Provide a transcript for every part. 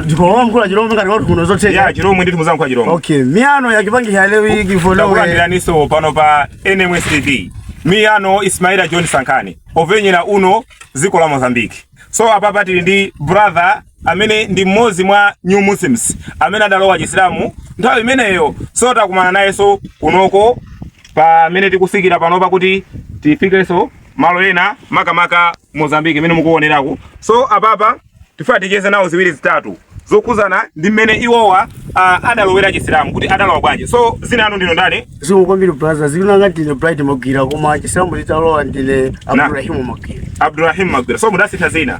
ndikowankhula chilomwe ngati watu kuno zotheka ya chilomwe ndithu muzangu kwa chilomwe okay miyano yakupatsira leo iyi kifonowe takulandiraninso pano pa nms tv miyano ismaila john sankhani owonera uno dziko la mozambique so apapa tili ndi brother amene ndi mmodzi mwa new muslims amene adalowa chisilamu nthawi imeneyo so takumana nayenso kunoko pamene tikufikira panopa kuti tifikenso malo ena makamaka Mozambique imene mukuoneraku. So apapa tifuna ticheze nawo ziwiri zitatu zokhuzana ndi mmene iwowa uh, adalowera chisilamu kuti adalowa bwanji. So dzina lanu ndinu ndani? Zikomo kwambiri brother, dzina langa ndine Bright Magwira koma chisilamu nditalowa ndine Abdurrahim Magwira. Abdurrahim Magwira. So mudasintha dzina.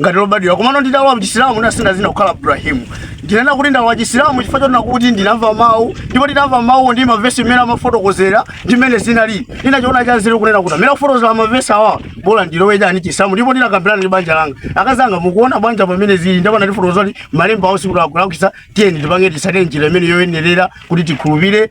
ngati lobadwira komano ndidalowa mchisilamu ndasintha dzina kukhala ibrahimu ndinena kuti ndalowa chisilamu chifukwa choti kunena kuti ndinamva mawu ndipo ndinamva mawu ndi mavesi mmene amafotokozera ndi mmene zinali ndinachiona chanzeru kunena kuti amene akufotokozera mavesi awa bola ndilowe chani chisilamu ndipo ndinakambirana ndi banja langa akazi anga mukuona banja pamene zili ndipo anandifotokozera kuti malemba awo sikuti akulakwitsa tiyeni tipange titsatire njira imene yoyenerera kuti tikhulupire